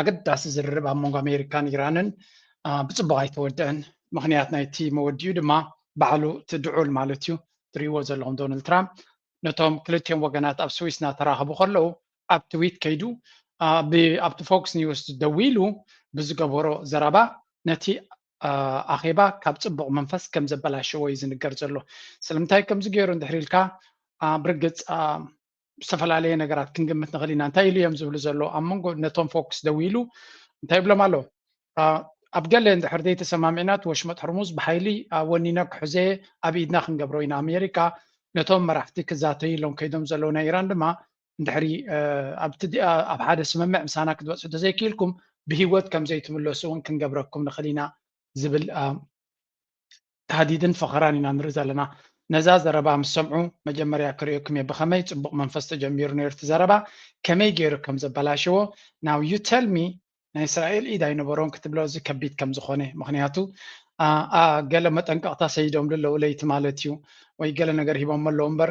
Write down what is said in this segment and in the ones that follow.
ኣገዳሲ ዝርርብ ኣብ መንጎ ኣሜሪካን ኢራንን ብፅቡቅ ኣይተወደአን ምክንያት ናይቲ መወዲኡ ድማ ባዕሉ እቲ ድዑል ማለት እዩ ትሪእዎ ዘለኹም ዶናልድ ትራምፕ ነቶም ክልቲኦም ወገናት ኣብ ስዊስ እናተራኸቡ ከለዉ ኣብ ትዊት ከይዱ ኣብቲ ፎክስ ኒውስ ደዊሉ ብዝገበሮ ዘረባ ነቲ ኣኼባ ካብ ፅቡቅ መንፈስ ከም ዘበላሸዎ እዩ ዝንገር ዘሎ ስለምንታይ ከምዚ ገይሩ እንድሕር ኢልካ ብርግፅ ዝተፈላለየ ነገራት ክንግምት ንኽእል ኢና እንታይ ኢሉ እዮም ዝብሉ ዘሎ ኣብ መንጎ ነቶም ፎክስ ደው ኢሉ እንታይ ይብሎም ኣሎ ኣብ ገለ እንድሕር ዘይተሰማሚዕና እቲ ወሽመጥ ሕርሙዝ ብሓይሊ ወኒነ ክሕዘ ኣብ ኢድና ክንገብሮ ኢና ኣሜሪካ ነቶም መራሕቲ ክዛተዩ ኢሎም ከይዶም ዘለዉ ናይ ኢራን ድማ እንድሕሪ ኣብ ሓደ ስምምዕ ምሳና ክትበፅሑ ተዘይክኢልኩም ብሂወት ከም ዘይትምለሱ እውን ክንገብረኩም ንኽእል ኢና ዝብል ታህዲድን ፈኸራን ኢና ንርኢ ዘለና። ነዛ ዘረባ ምስ ሰምዑ መጀመርያ ክርእየኩም'የ ብኸመይ ጽቡቕ መንፈስ ተጀሚሩ ኔሩ እቲ ዘረባ ከመይ ጌሩ ከም ዘበላሸዎ ናው ዩ ተል ሚ ናይ እስራኤል ኢድ ኣይነበሮን ክትብሎ እዚ ከቢድ ከም ዝኾነ ምኽንያቱ ገለ መጠንቀቕታ ሰዲዶምሉ ኣለዉ ለይቲ ማለት ዩ ወይ ገለ ነገር ሂቦሞ ኣለዉ እምበር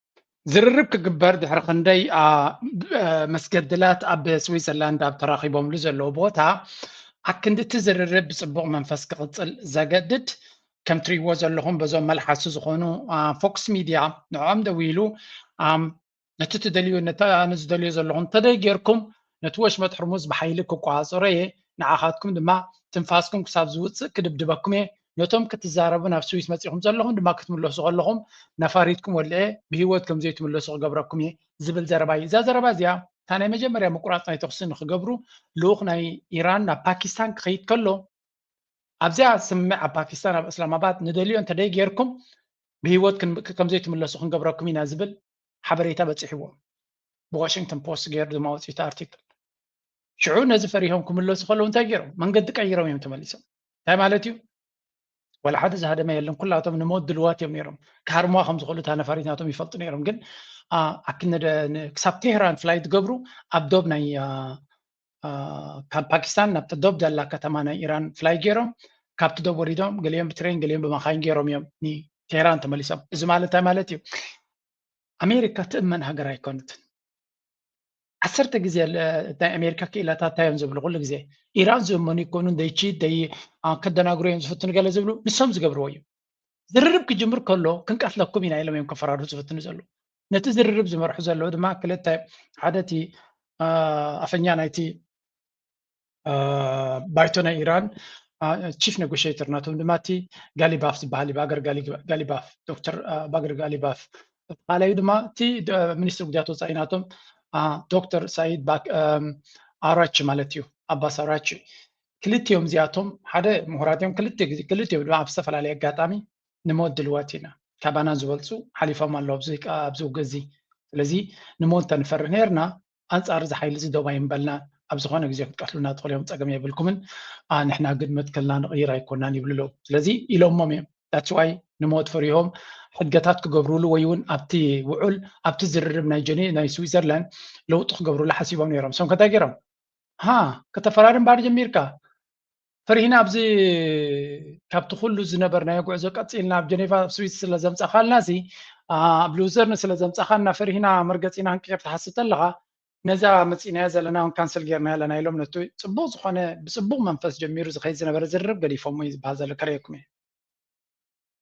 ዝርርብ ክግበር ድሕሪ ክንደይ መስገድላት ኣብ ስዊዘርላንድ ኣብ ተራኺቦምሉ ዘለዉ ቦታ ኣክንዲ እቲ ዝርርብ ብፅቡቕ መንፈስ ክቕፅል ዘገድድ ከም ትሪእዎ ዘለኹም በዞም መልሓሱ ዝኾኑ ፎክስ ሚድያ ንዕኦም ደዊ ኢሉ ነቲ ትደልዩ ነቲ ኣነ ዝደልዮ ዘለኹም ተደይ ጌርኩም ነቲ ወሽመጥ ሑርሙዝ ብሓይሊ ክቆጻጸሮ እየ፣ ንዓኻትኩም ድማ ትንፋስኩም ክሳብ ዝውጽእ ክድብድበኩም እየ፣ ነቶም ክትዛረቡ ናብ ስዊስ መጺእኩም ዘለኹም ድማ ክትምለሱ ከለኹም ነፋሪትኩም ወሊዐ ብህይወት ከም ዘይትምለሱ ክገብረኩም እየ ዝብል ዘረባ እዩ። እዛ ዘረባ እዚኣ እታ ናይ መጀመርያ ምቁራጽ ናይ ተኹሲ ንክገብሩ ልኡኽ ናይ ኢራን ናብ ፓኪስታን ክኸይድ ከሎ ኣብዚኣ ስምምዕ ኣብ ፓኪስታን ኣብ እስላማባድ ንደልዮ እንተደይ ጌርኩም ብህይወት ከም ዘይትምለሱ ክንገብረኩም ኢና ዝብል ሓበሬታ በጺሕዎም ብዋሽንግተን ፖስት ገይሩ ድማ ወፂኡ ኣርቲክል ሽዑ ነዚ ፈሪሆም ክምለሱ ከለዉ እንታይ ገይሮም መንገዲ ቀይሮም እዮም ተመሊሶም እንታይ ማለት እዩ ወላ ሓደ ዝሃደመ የለን ኩላቶም ንሞት ድልዋት እዮም ነይሮም ክሃርሙዋ ከም ዝኽእሉ እታ ነፋሪት ናቶም ይፈልጡ ነይሮም ግን ክሳብ ቴህራን ፍላይ ትገብሩ ኣብ ዶብ ናይ ካብ ፓኪስታን ናብቲ ዶብ ዘላ ከተማ ናይ ኢራን ፍላይ ገይሮም ካብቲ ዶብ ወሪዶም ገሊኦም ብትሬን ገሊኦም ብመኻይን ገይሮም እዮም ንቴህራን ተመሊሶም እዚ ማለት እንታይ ማለት እዩ ኣሜሪካ ትእመን ሃገር ኣይኮነትን ዓሰርተ ግዜ ናይ ኣሜሪካ ክኢላታት እንታይ እዮም ዝብሉ ኩሉ ግዜ ኢራን ዝእመኑ ይኮኑ ደይቺ ደይ ከደናግሩ እዮም ዝፍትኑ ገለ ዝብሉ ንሶም ዝገብርዎ እዩ ዝርርብ ክጅምር ከሎ ክንቀትለኩም ኢና ኢሎም እዮም ከፈራርሁ ዝፍትኑ ዘለዉ ነቲ ዝርርብ ዝመርሑ ዘለዉ ድማ ክልተ ሓደ እቲ ኣፈኛ ናይቲ ባይቶ ናይ ኢራን ቺፍ ኔጎሽተር ናቶም ድማ እቲ ጋሊባፍ ዝበሃል ባገር ጋሊባፍ ዶክተር ባገር ጋሊባፍ እቲ ካልኣዩ ድማ እቲ ሚኒስትሪ ጉዳያት ወፃኢ ናቶም ዶክተር ሳይድ ኣራች ማለት እዩ ኣባስ ኣራች ክልቲኦም እዚኣቶም ሓደ ምሁራት እዮም ክልቲኦም ድማ ኣብ ዝተፈላለየ ኣጋጣሚ ንሞት ድልዋት ኢና ካባና ዝበልጹ ሓሊፎም ኣለዉ ኣብዚ ኣብዚ ውግእ እዚ ስለዚ ንሞት ተንፈርህ ነርና ኣንጻር እዚ ሓይሊ እዚ ዶብ ኣይምበልናን ኣብ ዝኾነ ግዜ ክትቀትሉና ትኽእሉ እዮም ጸገም የብልኩምን ንሕና ግን መትከልና ንቕይር ኣይኮናን ይብሉ ኣለዉ ስለዚ ኢሎሞም እዮም ዳትስዋይ ንሞት ፈሪሆም ሕገታት ክገብሩሉ ወይ እውን ኣብቲ ውዑል ኣብቲ ዝርርብ ናይ ጀኔ ናይ ስዊዘርላንድ ለውጢ ክገብሩሉ ሓሲቦም ነይሮም ሰም ከታይ ገይሮም ሃ ከተፈራርም ባር ጀሚርካ ፍርሂና ኣብዚ ካብቲ ኩሉ ዝነበርናዮ ጉዕዞ ቀፂልና ኣብ ጀኔቫ ኣብ ስዊስ ስለ ዘምፃኻልና እዚ ኣብ ሉዘርን ስለ ዘምፃኻልና ፍርሂና መርገፂና ክንቅይር ትሓስብ ተለኻ ነዛ መፂእናዮ ዘለና እውን ካንስል ጌርና ኣለና ኢሎም ነቲ ፅቡቕ ዝኾነ ብፅቡቕ መንፈስ ጀሚሩ ዝኸይድ ዝነበረ ዝርርብ ገዲፎሞ እዩ ዝበሃል ዘሎ ከርእየኩም እየ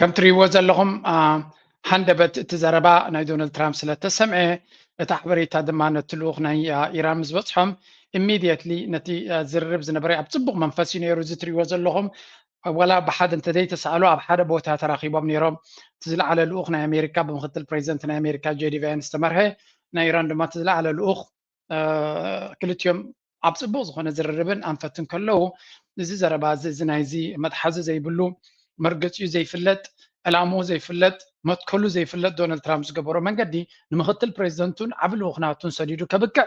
ከም ትሪእዎ ዘለኹም ሃንደበት እቲ ዘረባ ናይ ዶናልድ ትራምፕ ስለ ተሰምዐ እቲ ሓበሬታ ድማ ነቲ ልኡኽ ናይ ኢራን ምስ በፅሖም ኢሚድየትሊ ነቲ ዝርርብ ዝነበረ ኣብ ፅቡቕ መንፈስ እዩ ነይሩ እዚ ትሪእዎ ዘለኹም ዋላ ብሓደ እንተዘይተሰኣሉ ኣብ ሓደ ቦታ ተራኺቦም ነይሮም እቲ ዝለዓለ ልኡኽ ናይ ኣሜሪካ ብምክትል ፕሬዚደንት ናይ ኣሜሪካ ጄዲ ቫንስ ዝተመርሐ ናይ ኢራን ድማ እቲ ዝለዓለ ልኡኽ ክልቲኦም ኣብ ፅቡቕ ዝኾነ ዝርርብን ኣንፈትን ከለዉ እዚ ዘረባ እዚ እዚ ናይዚ መትሓዚ ዘይብሉ መርገፂኡ ዘይፍለጥ ዕላምኡ ዘይፍለጥ መትከሉ ዘይፍለጥ ዶናልድ ትራምፕ ዝገበሮ መንገዲ ንምክትል ፕሬዚደንቱን ዓብ ልኡኽናቱን ሰዲዱ ከብቅዕ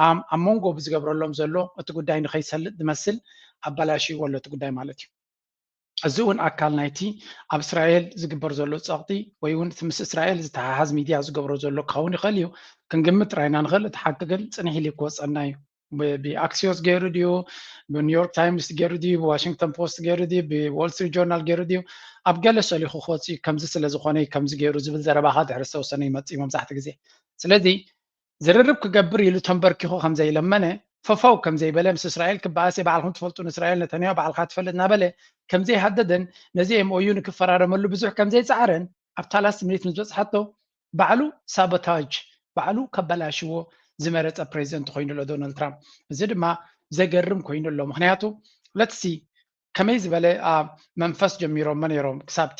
ኣብ መንጎ ብዝገብረሎም ዘሎ እቲ ጉዳይ ንከይሰልጥ ዝመስል ኣበላሽይዎ ኣሎ እቲ ጉዳይ ማለት እዩ እዚ እውን ኣካል ናይቲ ኣብ እስራኤል ዝግበር ዘሎ ፀቕጢ ወይ እውን እቲ ምስ እስራኤል ዝተሓሓዝ ሚድያ ዝገብሮ ዘሎ ክኸውን ይኽእል እዩ ክንግምት ጥራይ ኢና ንኽእል እቲ ሓቂ ግን ፅንሕ ኢሉ ክወፀና እዩ ብኣክሲዮስ ገይሩ ድዩ ብኒውዮርክ ታይምስ ገይሩ ድዩ ብዋሽንግተን ፖስት ገይሩ ድዩ ብዎል ስትሪት ጆርናል ገይሩ ድዩ ኣብ ገለ ሰሊኹ ክወፅእ ከምዚ ስለ ዝኾነ ከምዚ ገይሩ ዝብል ዘረባኻ ድሕሪ ዝተወሰነ ይመፅእ እዩ መብዛሕትኡ ግዜ ስለዚ ዝርርብ ክገብር ኢሉ ተንበርኪኹ ከም ዘይለመነ፣ ፈፈው ከም ዘይበለ፣ ምስ እስራኤል ክበኣስ'የ ባዕልኹም ትፈልጡ ንእስራኤል ነተንያሁ ባዕልኻ ትፈልጥ እናበለ ከም ዘይሃደደን ነዚ MOU ንክፈራረመሉ ብዙሕ ከም ዘይጸዓረን ኣብታ ላስት ሚኒት ምስ በጽሓቶ ባዕሉ ሳቦታጅ ባዕሉ ከበላሽዎ ዝመረጸ ፕሬዚደንት ኮይኑ ኣሎ ዶናልድ ትራምፕ። እዚ ድማ ዘገርም ኮይኑ ኣሎ ምክንያቱ ለትሲ ከመይ ዝበለ መንፈስ ጀሚሮሞ ነይሮም ክሳብቲ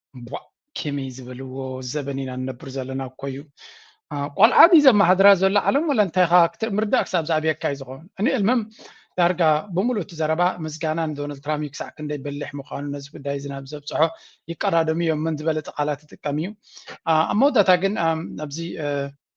ቧእ ኬመይ ዝበልዎ ዘበን ኢና ንነብር ዘለና እኮ እዩ ቆልዓ ድዩ ዘመሓድራ ዘሎ ዓለም ወላ እንታይ ኻ ክትምርዳእ ክሳብ ዝኣብየካ እዩ ዝኸውን እኔ እልምም ዳርጋ ብምሉእ እቲ ዘረባ ምስጋና ንዶናልድ ትራምፕ እዩ ክሳዕ ክንደይ በሊሕ ምዃኑ ነዚ ጉዳይ እዚ ናብ ዘብፅሖ ይቀዳደሙ እዮም መን ዝበለፀ ቃላት ይጥቀም እዩ ኣብ መወዳእታ ግን ኣብዚ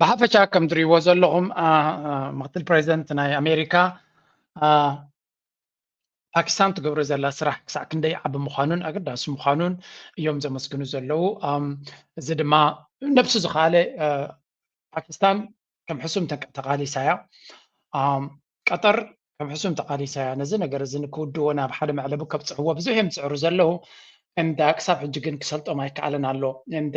ብሓፈሻ ከም ትሪእዎ ዘለኹም ምክትል ፕሬዚደንት ናይ ኣሜሪካ ፓኪስታን ትገብሮ ዘላ ስራሕ ክሳዕ ክንደይ ዓቢ ምዃኑን ኣገዳሲ ምዃኑን እዮም ዘመስግኑ ዘለዉ እዚ ድማ ነብሱ ዝኸኣለ ፓኪስታን ከም ሕሱም ተቃሊሳ እያ ቀጠር ከም ሕሱም ተቃሊሳ እያ ነዚ ነገር እዚ ንክውድዎ ናብ ሓደ መዕለቢ ከብፅሕዎ ብዙሕ እዮም ዝፅዕሩ ዘለዉ እንዳ ክሳብ ሕጂ ግን ክሰልጦም ኣይከኣለን ኣሎ እንደ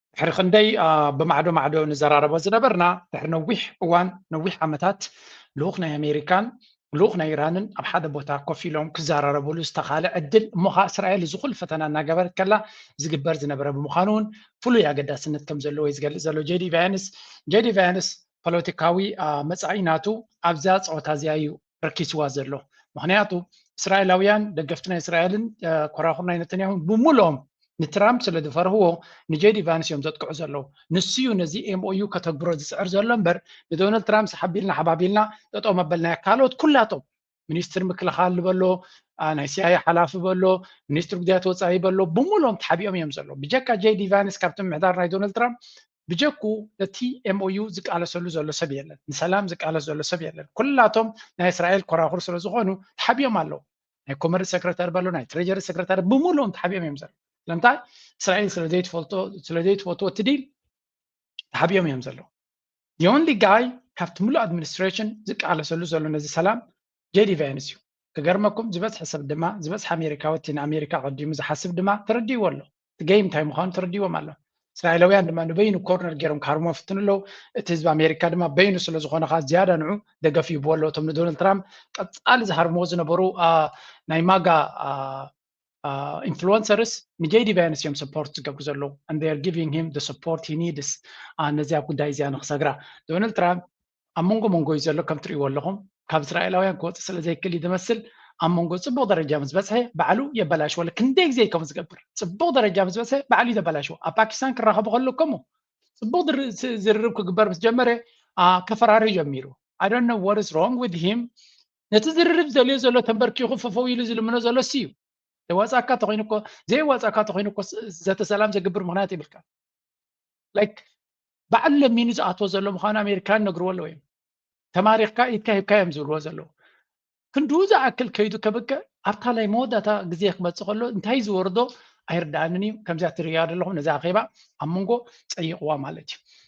ድሕሪ ክንደይ ብማዕዶ ማዕዶ ንዘራረቦ ዝነበርና ድሕሪ ነዊሕ እዋን ነዊሕ ዓመታት ልኡኽ ናይ ኣሜሪካን ልኡኽ ናይ ኢራንን ኣብ ሓደ ቦታ ኮፍ ኢሎም ክዘራረብሉ ዝተኻለ ዕድል እሞ ከዓ እስራኤል እዚ ኩሉ ፈተና እናገበረት ከላ ዝግበር ዝነበረ ብምዃኑ እውን ፍሉይ ኣገዳስነት ከም ዘለዎ እዩ ዝገልፅ ዘሎ ጄዲ ቫያንስ ጄዲ ቫያንስ ፖለቲካዊ መፃኢ ናቱ ኣብዛ ፀወታ እዚኣ እዩ ረኪስዋ ዘሎ ምክንያቱ እስራኤላውያን ደገፍቲ ናይ እስራኤልን ኮራኩር ናይ ነተንያሁን ብምሉኦም ንትራምፕ ስለ ዝፈርህዎ ንጄዲ ቫንስ እዮም ዘጥቅዑ ዘለዉ ንሱ እዩ ነዚ ኤምኦዩ ከተግብሮ ዝፅዕር ዘሎ እምበር ንዶናልድ ትራምፕ ሰሓቢልና ሓባቢልና ጠጦ መበልናዮ ካልኦት ኩላቶም ሚኒስትር ምክልኻል በሎ ናይ ሲኣይ ሓላፊ በሎ ሚኒስትር ጉዳያት ወፃኢ በሎ ብምሉኦም ተሓቢኦም እዮም ዘለዉ ብጀካ ጄዲ ቫንስ ካብቲ ምሕዳር ናይ ዶናልድ ትራምፕ ብጀኩ ነቲ MOU ዝቃለሰሉ ዘሎ ሰብ የለን ንሰላም ዝቃለስ ዘሎ ሰብ የለን ኩላቶም ናይ እስራኤል ኮራኹር ስለ ዝኾኑ ተሓቢኦም ኣለዉ ናይ ኮመርስ ሰክረታሪ በሎ ናይ ትሬጀሪ ሰክረታሪ ብምሉኦም ተሓቢኦም እዮም ዘለዉ ስለምንታይ እስራኤል ስለ ዘይትፈልጦ ስለ ዘይትፈትዎ እቲ ዲል ተሓቢኦም እዮም ዘለዉ ዮንሊ ጋይ ካብቲ ምሉእ ኣድሚኒስትሬሽን ዝቃለሰሉ ዘሎ ነዚ ሰላም ጀዲ ቫንስ እዩ ክገርመኩም ዝበዝሐ ሰብ ድማ ዝበዝሐ ኣሜሪካዊ እቲ ንኣሜሪካ ኣቐዲሙ ዝሓስብ ድማ ተረዲእዎ ኣሎ እቲ ገይም እንታይ ምዃኑ ተረዲዎም ኣሎ እስራኤላውያን ድማ ንበይኑ ኮርነር ገይሮም ክሃርሞ ፍትኑ ኣለዉ እቲ ህዝቢ ኣሜሪካ ድማ በይኑ ስለ ዝኾነ ኸዓ ዝያዳ ንዑ ደገፍ ይህብዎ ኣለዎ እቶም ንዶናልድ ትራምፕ ቀፃሊ ዝሃርምዎ ዝነበሩ ናይ ማጋ ኢንፍሉንሰርስ ንጀይዲ ቫንስ እዮም ሰፖርት ዝገብሩ ዘለዉ ንር ጊቪንግ ሂም ሰፖርት ሂ ኒድስ ነዚኣ ጉዳይ እዚኣ ንክሰግራ ዶናልድ ትራምፕ ኣብ መንጎ መንጎ እዩ ዘሎ ከም ትሪእዎ ኣለኹም ካብ እስራኤላውያን ክወፅእ ስለ ዘይክእል እዩ ዝመስል ኣብ መንጎ ፅቡቅ ደረጃ ምስ በፅሐ ባዕሉ የበላሽዎ ክንደይ ግዜ ከምኡ ዝገብር ፅቡቅ ደረጃ ምስ በፅሐ ባዕሉ እዩ ዘበላሽዎ ኣብ ፓኪስታን ክራኸቡ ከሎ ከምኡ ፅቡቅ ዝርርብ ክግበር ምስ ጀመረ ከፈራሪ ጀሚሩ ኣይ ዶንት ኖ ዋት ኢዝ ሮንግ ዊዝ ሂም ነቲ ዝርርብ ዝደልዮ ዘሎ ተንበርኪኹ ፍፍው ኢሉ ዝልምኖ ዘሎ እሱ እዩ ዘዋፃእካ ተኮይኑ እኮ ዘየዋፃእካ ተኮይኑ እኮ ዘተ ሰላም ዘግብር ምክንያት ይብልካ ላይክ በዓል ለሚኑ ዝኣትዎ ዘሎ ምኳኑ ኣሜሪካን ነግርዎ ኣለዎ እዮም ተማሪኽካ ኢድካ ሂብካ እዮም ዝብልዎ ዘለዉ ክንድኡ ዝኣክል ከይዱ ከብቅዕ ኣብታ ናይ መወዳእታ ግዜ ክመፅእ ከሎ እንታይ ዝወርዶ ኣይርዳእንን እዩ ከምዚኣ ትርእያ ዘለኹም ነዚ ኣኼባ ኣብ መንጎ ፀይቕዋ ማለት እዩ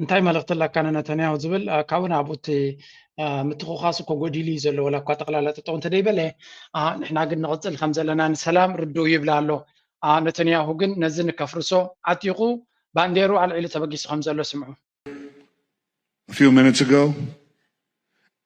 እንታይ መልእኽቲ ኣለካ ንነተንያሁ ዝብል ካብኡ ናብኡ እቲ ምትኹኻስ እኮ ጎዲሉ እዩ ዘሎ ዋላ እኳ ጠቕላላ ጠጠው እንተደይበለ ንሕና ግን ንቕፅል ከም ዘለና ንሰላም ርድኡ ይብላ ኣሎ ነተንያሁ ግን ነዚ ንከፍርሶ ዓጢቑ ባንዴሩ ኣልዒሉ ተበጊሱ ከም ዘሎ ስምዑ A few minutes ago,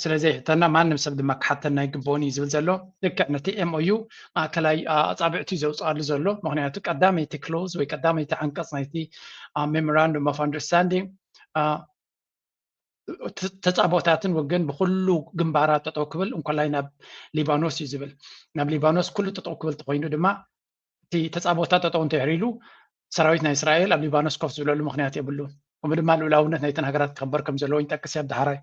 ስለ ዘይሕተና ማንም ሰብ ድማ ክሓተና ኣይግብኦን እዩ ዝብል ዘሎ ልክዕ ነቲ ኤምኦዩ ማእከላይ ኣፃብዕቲ ዘውፅኣሉ ዘሎ ምክንያቱ ቀዳመይቲ ክሎዝ ወይ ቀዳመይቲ ዓንቀፅ ናይቲ ሜሞራንዱም ኦፍ ኣንደርስታንዲንግ ተፃቦታትን ወገን ብኩሉ ግንባራት ጠጠው ክብል እንኮላይ ናብ ሊባኖስ እዩ ዝብል ናብ ሊባኖስ ኩሉ ጠጠው ክብል ተኮይኑ ድማ እቲ ተፃብኦታት ጠጠው እንተድሕር ኢሉ ሰራዊት ናይ እስራኤል ኣብ ሊባኖስ ኮፍ ዝብለሉ ምክንያት የብሉን። ከምኡ ድማ ልኡላውነት ናይተን ሃገራት ክኽበር ከም ዘለዎ ይጠቅስ ኣብ ዳሕራይ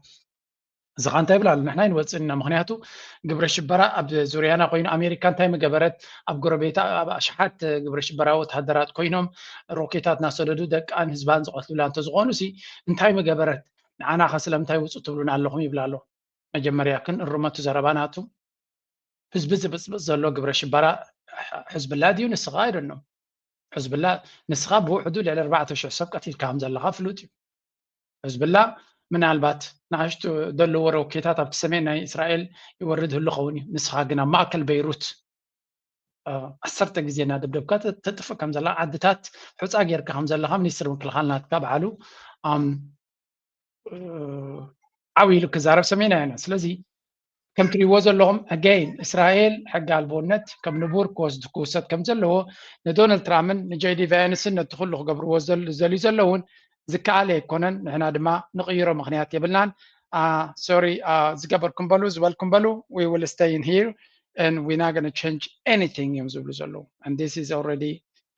እዚ ኸ እንታይ ይብል ኣሎ ንሕና ይንወፅእና ምክንያቱ ግብረ ሽበራ ኣብ ዙርያና ኮይኑ ኣሜሪካ እንታይ ምገበረት ኣብ ጎረቤታ ኣብ ኣሽሓት ግብረ ሽበራ ወተሃደራት ኮይኖም ሮኬታት እናሰደዱ ደቃን ህዝባን ዝቐትሉላ እንተዝኾኑ ሲ እንታይ ምገበረት ንዓና ኸ ስለምንታይ ውፁ ትብሉና ኣለኹም ይብል ኣሎ መጀመርያ ክንእርመቱ ዘረባናቱ ህዝቢ ዝብፅብፅ ዘሎ ግብረ ሽበራ ሕዝብላ ድዩ ንስኻ ኣይደኖም ሕዝብላ ንስኻ ብውሕዱ ልዕሊ ኣርባዕተ ሽሕ ሰብ ቀቲልካ ከም ዘለኻ ፍሉጥ እዩ ሕዝብላ ምናልባት ንኣሽቱ ዘለዎ ሮኬታት ኣብቲ ሰሜን ናይ እስራኤል ይወርድ ህሉ ኸውን እዩ ንስኻ ግን ኣብ ማእከል በይሩት ዓሰርተ ግዜ እናደብደብካ ተጥፍእ ከም ዘላ ዓድታት ሑፃ ጌርካ ከም ዘለካ ሚኒስትር ምክልኻል ናትካ በዓሉ ዓው ኢሉ ክዛረብ ሰሜና ኢና ስለዚ ከም ትሪእዎ ዘለኹም ኣገይን እስራኤል ሕጊ ኣልቦነት ከም ንቡር ክወስድ ክውሰድ ከም ዘለዎ ንዶናልድ ትራምፕን ንጀይዲ ቫያንስን ነቲ ኩሉ ክገብርዎ ዘልዩ ዘለውን ዝከኣለ ኣይኮነን ንሕና ድማ ንቕይሮ ምክንያት የብልናን ሶሪ ዝገበርኩም በሉ ዝበልኩም በሉ ዊ ዊል ስቴይ ን ሂር and we're not going to change anything እዮም ዝብሉ ዘለዉ and this is already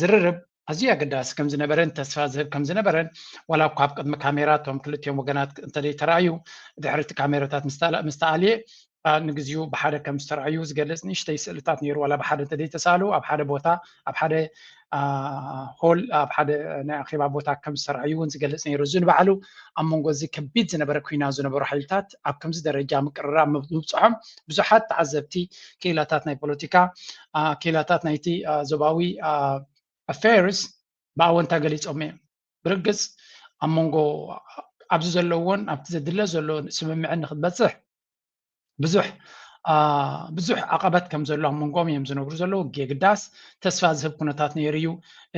ዝርርብ ኣዝዩ ኣገዳሲ ከም ዝነበረን ተስፋ ዝህብ ከም ዝነበረን ዋላ እኳ ኣብ ቅድሚ ካሜራ እቶም ክልቲኦም ወገናት እንተዘይተረኣዩ ድሕሪ እቲ ካሜራታት ምስ ተኣልየ ንግዚኡ ብሓደ ከም ዝተረኣዩ ዝገልፅ ንእሽተይ ስእልታት ነይሩ ዋላ ብሓደ እንተዘይተሳሉ ኣብ ሓደ ቦታ ኣብ ሓደ ሆል ኣብ ሓደ ናይ ኣኼባ ቦታ ከም ዝተረኣዩ እውን ዝገልፅ ነይሩ እዚ ንባዕሉ ኣብ መንጎ እዚ ከቢድ ዝነበረ ኩና ዝነበሩ ሓይልታት ኣብ ከምዚ ደረጃ ምቅርራብ ምብፅሖም ብዙሓት ተዓዘብቲ ክኢላታት ናይ ፖለቲካ ክኢላታት ናይቲ ዞባዊ ኣፌርስ ብኣወንታ ገሊፆም እዮም። ብርግፅ ኣብ መንጎ ኣብዚ ዘለዎን ኣብቲ ዘድለ ዘሎ ስምምዕን ንክትበፅሕ ብዙሕ ብዙሕ ዓቐበት ከም ዘሎ ኣብ መንጎኦም እዮም ዝነብሩ ዘለዉ የግዳስ ተስፋ ዝህብ ኩነታት ነይሩ እዩ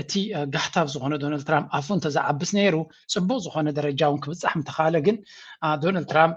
እቲ ጋህታብ ዝኾነ ዶናልድ ትራምፕ ኣፉ እንተዝዓብስ ነይሩ ፅቡቅ ዝኾነ ደረጃ እውን ክብፃሕ ምተኻለ ግን ዶናልድ ትራምፕ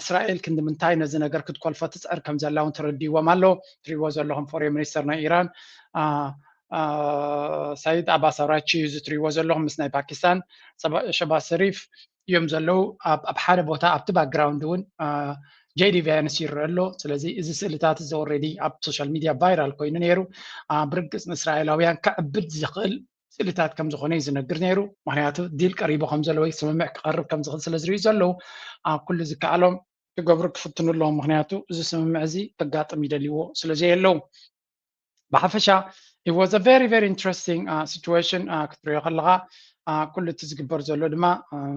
እስራኤል ክንዲ ምንታይ ነዚ ነገር ክትኮልፎ ትፅዕር ከም ዘላ እውን ተረዲዎም ኣሎ ትሪእዎ ዘለኹም ፎሬን ሚኒስተር ናይ ኢራን ሳይድ ኣባስ ኣራቺ እዩ እዚ ትሪእዎ ዘለኹም ምስ ናይ ፓኪስታን ሸባ ሰሪፍ እዮም ዘለዉ ኣብ ሓደ ቦታ ኣብቲ ባክግራውንድ እውን ጄዲ ቫያንስ ይረአ ኣሎ ስለዚ እዚ ስእልታት እዚ ኦልሬዲ ኣብ ሶሻል ሚድያ ቫይራል ኮይኑ ነይሩ ብርግፅ ንእስራኤላውያን ከዕብድ ዝኽእል ስእልታት ከም ዝኾነ እዩ ዝነግር ነይሩ ምክንያቱ ዲል ቀሪቡ ከም ዘሎ ወይ ስምምዕ ክቀርብ ከም ዝኽእል ስለ ዝርእዩ ዘለዉ ኣብ ኩሉ ዝከኣሎም ክገብሩ ክፍትኑ ኣለዎም ምክንያቱ እዚ ስምምዕ እዚ ከጋጥም ይደልይዎ ስለ ዘየለዉ ብሓፈሻ it was a very very interesting uh, situation uh, ክትሪኦ ከለኻ uh, ኩሉ እቲ ዝግበር ዘሎ ድማ uh,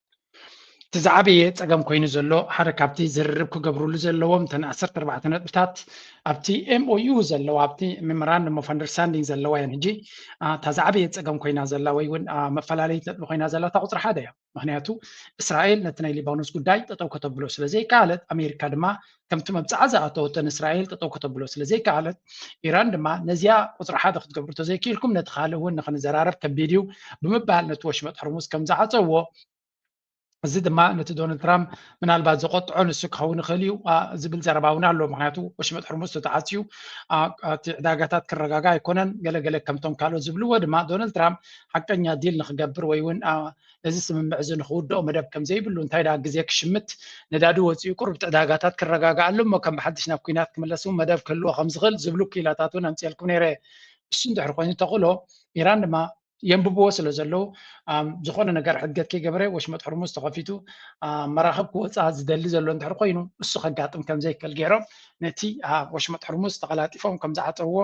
እቲ ዝዓበየ ፀገም ኮይኑ ዘሎ ሓደ ካብቲ ዝርርብ ክገብርሉ ዘለዎም እተን ዓሰርተ ኣርባዕተ ነጥብታት ኣብቲ ኤምኦዩ ዘለዋ ኣብቲ ሜሞራንደም ኦፍ ኣንደርስታንዲንግ ዘለዋ እየን ሕጂ እታ ዝዓበየ ፀገም ኮይና ዘላ ወይ እውን መፈላለዪት ነጥቢ ኮይና ዘላ እታ ቁፅሪ ሓደ እያ ምክንያቱ እስራኤል ነቲ ናይ ሊባኖስ ጉዳይ ጠጠው ከተብሎ ስለዘይከኣለት ኣሜሪካ ድማ ከምቲ መብጽዓ ዝኣተወቶ ንእስራኤል ጠጠው ከተብሎ ስለ ዘይከኣለት፣ ኢራን ድማ ነዚኣ ቁጽሪ ሓደ ክትገብሩ ተዘይኪኢልኩም ነቲ ካልእ እውን ንኽንዘራረብ ከቢድ እዩ ብምባል ነቲ ወሽመጥ ሕርሙዝ ከም ዝዓጸዎ እዚ ድማ ነቲ ዶናልድ ትራምፕ ምናልባት ዘቆጥዖ ንሱ ክኸውን ይኽእል እዩ ዝብል ዘረባ እውን ኣሎ ምክንያቱ ወሽመጥ ሕርሙዝ ተተዓፅዩ እቲ ዕዳጋታት ክረጋጋ ኣይኮነን ገለገለ ከምቶም ካልኦት ዝብልዎ ድማ ዶናልድ ትራምፕ ሓቀኛ ዲል ንክገብር ወይ እውን እዚ ስምምዕ እዚ ንክውድኦ መደብ ከም ዘይብሉ እንታይ ደኣ ግዜ ክሽምት ነዳዲ ወፂኡ ቁሩብ እቲ ዕዳጋታት ክረጋግኣሉ እሞ ከም ብሓድሽ ናብ ኩናት ክምለስ እውን መደብ ክህልዎ ከም ዝኽእል ዝብሉ ክኢላታት እውን ኣምፅኤልኩም ነይረ እሱ እንድሕር ኮይኑ ተኽእሎ ኢራን ድማ የንብብዎ ስለ ዘለዉ ዝኾነ ነገር ሕድገት ከይገበረ ወሽመጥ ሕርሙዝ ተኸፊቱ መራኽብ ክወፃ ዝደሊ ዘሎ እንድሕር ኮይኑ እሱ ከጋጥም ከም ዘይክእል ገይሮም ነቲ ወሽመጥ ሕርሙዝ ተቐላጢፎም ከም ዝዓፀውዎ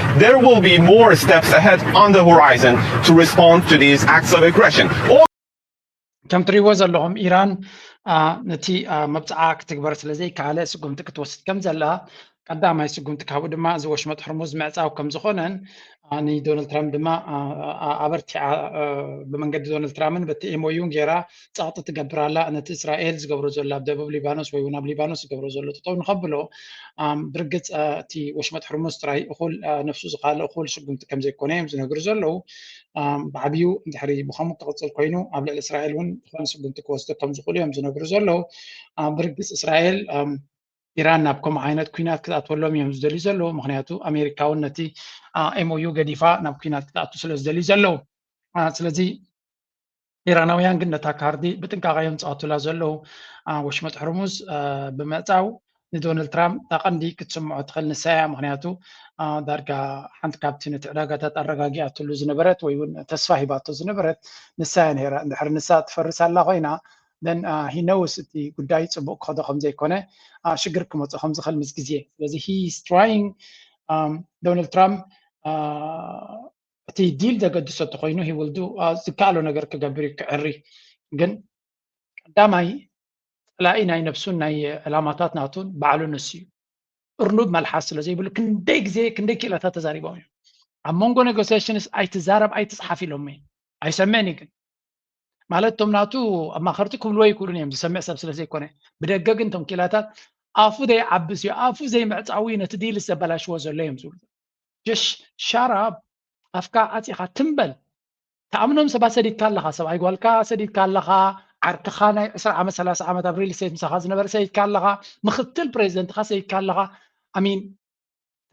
there will be more steps ahead on the horizon to respond to these acts of aggression. ከም ትሪእዎ ዘለኹም ኢራን ነቲ መብፅዓ ክትግበር ስለ ዘይከኣለ ስጉምቲ ክትወስድ ከም ዘላ ቀዳማይ ስጉምቲ ካብኡ ድማ እዚ ወሽመጥ ሕርሙዝ ምዕፃው ከም ዝኾነን ንዶናልድ ትራምፕ ድማ ኣበርቲዓ ብመንገዲ ዶናልድ ትራምፕን በቲ ኤምኦዩን ገይራ ጸቕጢ ትገብር ኣላ ነቲ እስራኤል ዝገብሮ ዘሎ ኣብ ደቡብ ሊባኖስ ወይ እውን ኣብ ሊባኖስ ዝገብሮ ዘሎ ጠጠው ንኸብሎ ብርግፅ እቲ ወሽመጥ ሕርሙስ ጥራይ እኹል ነፍሱ ዝካልእ እኹል ስጉምቲ ከም ዘይኮነ እዮም ዝነግሩ ዘለዉ ብዓብዩ እንድሕሪ ብከምኡ ክቕፅል ኮይኑ ኣብ ልዕሊ እስራኤል እውን ዝኾነ ስጉምቲ ክወስዶ ከም ዝኽእሉ እዮም ዝነግሩ ዘለዉ ብርግፅ እስራኤል ኢራን ናብ ከምኡ ዓይነት ኩናት ክትኣትወሎም እዮም ዝደልዩ ዘለዉ ምክንያቱ ኣሜሪካ እውን ነቲ ኤምኦዩ ገዲፋ ናብ ኩናት ክትኣቱ ስለ ዝደልዩ ዘለዉ ስለዚ ኢራናውያን ግን ነታ ካርዲ ብጥንቃቐ እዮም ዝፃወቱላ ዘለዉ ኣብ ወሽመጥ ሕርሙዝ ብምዕፃው ንዶናልድ ትራምፕ እታ ቀንዲ ክትስምዖ ትኽእል ንሳ እያ ምክንያቱ ዳርጋ ሓንቲ ካብቲ ነቲ ዕዳጋታት ኣረጋጊኣትሉ ዝነበረት ወይ እውን ተስፋ ሂባቶ ዝነበረት ንሳ እያ ነይራ እንድሕር ንሳ ትፈርስ ኣላ ኮይና ነን ሂነውስ እቲ ጉዳይ ፅቡቅ ክኸዶ ከምዘይኮነ ሽግር ክመፆ ከምዝኽእል ምስ ግዜ ስለዚ ሂስ ትራይንግ ዶናልድ ትራምፕ እቲ ዲል ዘገድሶ እንተኮይኑ ሂ ዊል ዱ ዝከኣሎ ነገር ክገብር እዩ ክዕሪ ግን ቀዳማይ ፀላኢ ናይ ነብሱን ናይ ዕላማታት ናቱን ባዕሉ ንሱ እዩ እርኑብ መልሓስ ስለዘይብሉ ክንደይ ግዜ ክንደይ ክኢላታት ተዛሪቦም እዮም ኣብ መንጎ ኔጎሲሽንስ ኣይትዛረብ ኣይትፅሓፍ ኢሎምኒ ኣይሰምዕን እዩ ግን ማለት እቶም ናቱ ኣማኸርቲ ክብልዎ ይክእሉን እዮም ዝሰምዕ ሰብ ስለ ዘይኮነ ብደገ ግን እቶም ኪላታት ኣፉ ዘይዓብስ እዩ ኣፉ ዘይምዕፃዊ እዩ ነቲ ዲል ዘበላሽዎ ዘሎ እዮም ዝብሉ ጀሽ ሻራ ኣፍካ ዓፂኻ ትምበል ተኣምኖም ሰባት ሰዲድካ ኣለኻ ሰብኣይ ጓልካ ሰዲድካ ኣለኻ ዓርክኻ ናይ 2 ዓመት 3 ዓመት ኣብ ሪል ስቴት ምሳኻ ዝነበረ ሰይድካ ኣለኻ ምክትል ፕሬዚደንትካ ሰይድካ ኣለኻ ኣሚን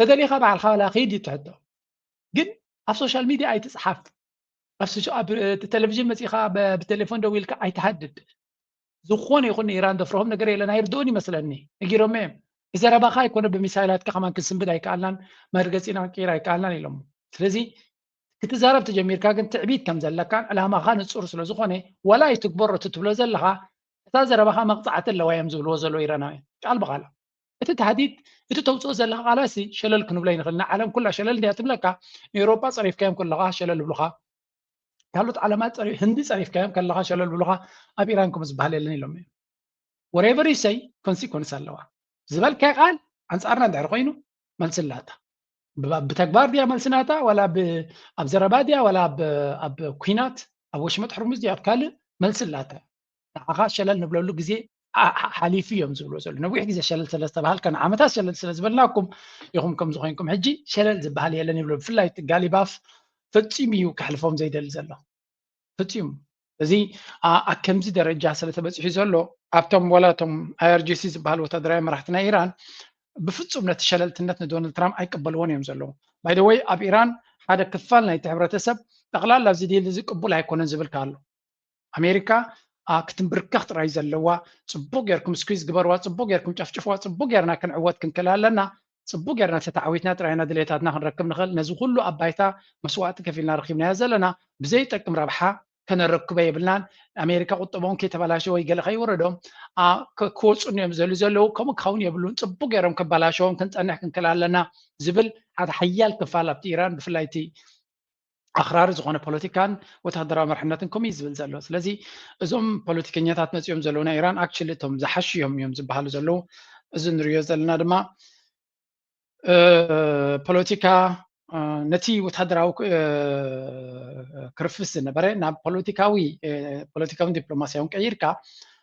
ተደሊኻ ባዕልካ ላ ከይድ እዩ ትሕቶ ግን ኣብ ሶሻል ሚድያ ኣይትፅሓፍ ኣስቹ ኣብ ቴሌቪዥን መፂእኻ ብቴሌፎን ደው ኢልካ ኣይትሃድድ ዝኾነ ይኹን ኢራን ደፍርሆም ነገር የለን ኣይርድኡን ይመስለኒ ነጊሮም እዮም ብዘረባኻ ኣይኮነ ብሚሳይላትካ ከማን ክንስንብድ ኣይከኣልናን መርገፂና ክንቅይር ኣይከኣልናን ኢሎም ስለዚ ክትዛረብ ተጀሚርካ ግን ትዕቢት ከም ዘለካን ዕላማኻ ንፁር ስለ ዝኾነ ዋላ ኣይትግበሮ እቲ ትብሎ ዘለኻ እታ ዘረባኻ መቕፃዕቲ ኣለዋ እዮም ዝብልዎ ዘሎ ኢራናውያን ቃል ብቓል እቲ ታህዲድ እቲ ተውፅኦ ዘለካ ቃላሲ ሸለል ክንብሎ ይንኽእል ንዓለም ኩላ ሸለል እንድያ ትብለካ ንኤውሮጳ ፀሪፍካዮም ከለኻ ሸለል ይብሉኻ ካልኦት ዓለማት ህንዲ ፀሪፍካዮም ከለካ ሸለል ብሉካ ኣብ ኢራን ከምኡ ዝበሃል የለን ኢሎም እዮም ወሬቨር ይሰይ ኮንሲኮንስ ኣለዋ ዝበልካይ ቃል ኣንፃርና እንድሕር ኮይኑ መልሲ ኣላታ ብተግባር ድያ መልሲ ናታ ዋላ ኣብ ዘረባ ድያ ዋላ ኣብ ኩናት ኣብ ወሽመጥ ሕርሙዝ ድያ ኣብ ካልእ መልሲ ኣላታ ንዓኻ ሸለል ንብለሉ ግዜ ሓሊፉ እዮም ዝብልዎ ዘሎ ነዊሕ ግዜ ሸለል ስለ ዝተባሃልካ ንዓመታት ሸለል ስለ ዝበልናኩም ኢኹም ከምዚ ኮይንኩም ሕጂ ሸለል ዝበሃል የለን ይብሎ ብፍላይ እቲ ጋሊባፍ ፈፂሙ እዩ ከሕልፎም ዘይደሊ ዘሎ ፍፂሙ እዚ ኣብ ከምዚ ደረጃ ስለ ተበፂሑ ዘሎ ኣብቶም ዋላ እቶም ኣይኣርጂሲ ዝበሃል ወታደራዊ መራሕቲ ናይ ኢራን ብፍፁም ነቲ ሸለልትነት ንዶናልድ ትራምፕ ኣይቀበልዎን እዮም ዘለዉ ባይደወይ ኣብ ኢራን ሓደ ክፋል ናይቲ ሕብረተሰብ ጠቕላላ እዚ ዲል እዚ ቅቡል ኣይኮነን ዝብል ኣሎ ኣሜሪካ ክትምብርከኽ ጥራይ ዘለዋ ፅቡቅ ጌርኩም ስኪዝ ግበርዋ ፅቡቅ ጌርኩም ጨፍጭፍዋ ፅቡቅ ጌርና ክንዕወት ክንክእል ኣለና ፅቡቅ ጌርና ተተዓዊትና ጥራይ ኢና ድሌታትና ክንረክብ ንኽእል ነዚ ኩሉ ኣብ ባይታ መስዋእቲ ከፊልና ረኪብናዮ ዘለና ብዘይጠቅም ረብሓ ከነረክቦ የብልናን ኣሜሪካ ቁጠቦም ከይተበላሸ ወይ ገለ ከይወረዶም ክወፁኒ እዮም ዘሉ ዘለዉ ከምኡ ክኸውን የብሉን ፅቡቅ ገይሮም ከባላሸዎም ክንፀንሕ ክንክእል ኣለና ዝብል ሓደ ሓያል ክፋል ኣብቲ ኢራን ብፍላይ እቲ ኣኽራሪ ዝኾነ ፖለቲካን ወታደራዊ መርሕነትን ከምኡ እዩ ዝብል ዘሎ ስለዚ እዞም ፖለቲከኛታት መፂኦም ዘለዉ ናይ ኢራን ኣክቹሊ እቶም ዝሓሹ እዮም እዮም ዝበሃሉ ዘለዉ እዚ ንሪዮ ዘለና ድማ ፖለቲካ ነቲ ወታደራዊ ክርፍስ ዝነበረ ናብ ፖለቲካዊ ፖለቲካውን ዲፕሎማስያውን ቀይርካ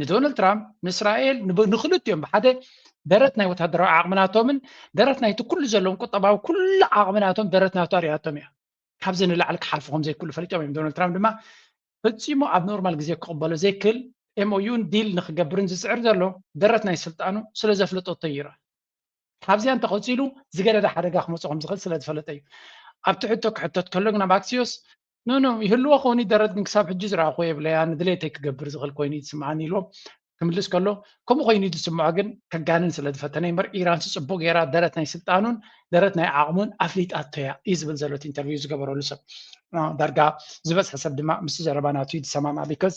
ንዶናልድ ትራምፕ ንእስራኤል ንክልቲኦም ብሓደ ደረት ናይ ወታደራዊ ዓቕምናቶምን ደረት ናይቲ ኩሉ ዘለዎም ቁጠባዊ ኩሉ ዓቕምናቶም ደረት ናቶ ኣሪኣቶም እያ ካብዚ ንላዕሊ ክሓልፉ ከም ዘይክእሉ ፈሊጦም እዮም ዶናልድ ትራምፕ ድማ ፈፂሙ ኣብ ኖርማል ግዜ ክቕበሎ ዘይክእል ኤምኦዩን ዲል ንክገብርን ዝፅዕር ዘሎ ደረት ናይ ስልጣኑ ስለ ዘፍለጠቶ ይረአ ካብዚኣ እንተቐፂሉ ዝገደደ ሓደጋ ክመፅኦ ከም ዝኽእል ስለ ዝፈለጠ እዩ ኣብቲ ሕቶ ክሕተት ከሎ ግን ኣብ ኣክሲዮስ ኖኖ ይህልዎ ክኾን እዩ ደረት ግን ክሳብ ሕጂ ዝረኣኹ የብለይ ኣነ ድሌተይ ክገብር ዝኽእል ኮይኑ እዩ ዝስምዓኒ ኢልዎም ክምልስ ከሎ ከምኡ ኮይኑ እዩ ዝስምዖ ግን ከጋንን ስለ ዝፈተነ እምበር ኢራን ስፅቡቅ ገይራ ደረት ናይ ስልጣኑን ደረት ናይ ዓቕሙን ኣፍሊጣቶ እያ እዩ ዝብል ዘሎ እቲ ኢንተርቪው ዝገበረሉ ሰብ ዳርጋ ዝበዝሐ ሰብ ድማ ምስ ዘረባ ናቱ እዩ ዝሰማማዕ ቢካዝ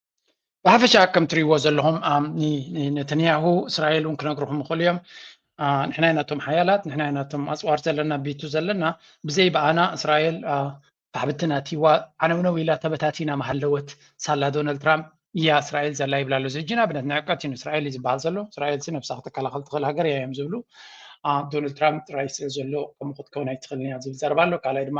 ብሓፈሻ ከም ትሪእዎ ዘለኹም ነተንያሁ እስራኤል እውን ክነግርኹም ይኽእሉ እዮም ንሕና ኢና እቶም ሓያላት ንሕና ኢና እቶም ኣፅዋር ዘለና ቢቱ ዘለና ብዘይ በኣና እስራኤል ኣሕብትና እትይዋ ዓነውነው ኢላ ተበታቲና መሃለወት ሳላ ዶናልድ ትራምፕ እያ እስራኤል ዘላ ይብላ ኣሎ እዚ ሕጂ ንኣብነት ንዕቀት እዩ እስራኤል እዩ ዝበሃል ዘሎ እስራኤል ሲ ነብሳ ክትከላኸል ትኽእል ሃገር እያ እዮም ዝብሉ ዶናልድ ትራምፕ ጥራይ ስለ ዘሎ ከምኡ ክትከውን ኣይትኽእልን እያ ዝብል ዘረባ ኣሎ ካልኣይ ድማ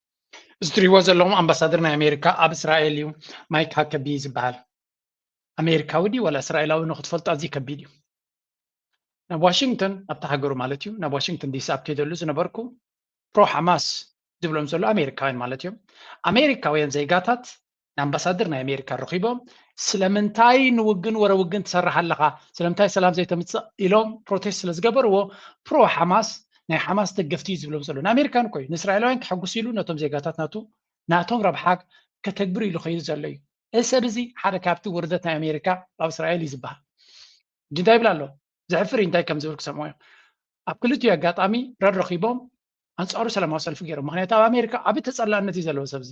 እዚ ትሪእዎ ዘለኹም ኣምባሳደር ናይ ኣሜሪካ ኣብ እስራኤል እዩ ማይክ ሃከቢ ዝበሃል ኣሜሪካዊ ድዩ ዋላ እስራኤላዊ ንክትፈልጦ ኣዝዩ ከቢድ እዩ ናብ ዋሽንግተን ኣብቲ ሃገሩ ማለት እዩ ናብ ዋሽንግተን ዲሲ ኣብ ከይደሉ ዝነበርኩ ፕሮ ሓማስ ዝብሎም ዘሎ ኣሜሪካውያን ማለት እዮም ኣሜሪካውያን ዜጋታት ንኣምባሳደር ናይ ኣሜሪካ ረኺቦም ስለምንታይ ንውግን ወረ ውግን ትሰርሕ ኣለኻ ስለምንታይ ሰላም ዘይተምፅእ ኢሎም ፕሮቴስት ስለ ዝገበርዎ ፕሮ ሓማስ ናይ ሓማስ ደገፍቲ እዩ ዝብሎም ዘሎ ንኣሜሪካን ኮይ ንእስራኤላውያን ከሐጉስ ኢሉ ነቶም ዜጋታት ናቱ ናቶም ረብሓ ከተግብር ኢሉ ከይዱ ዘሎ እዩ እዚ ሰብ እዚ ሓደ ካብቲ ውርደት ናይ ኣሜሪካ ኣብ እስራኤል እዩ ዝበሃል ሕጂ እንታይ ይብል ኣሎ ዘሕፍር እዩ እንታይ ከም ዝብል ክሰምዖ እዮም ኣብ ክልቲኡ ኣጋጣሚ ረድ ረኪቦም ኣንፃሩ ሰላማዊ ሰልፊ ገይሮም ምክንያቱ ኣብ ኣሜሪካ ዓብዪ ተፀላእነት እዩ ዘለዎ ሰብ እዚ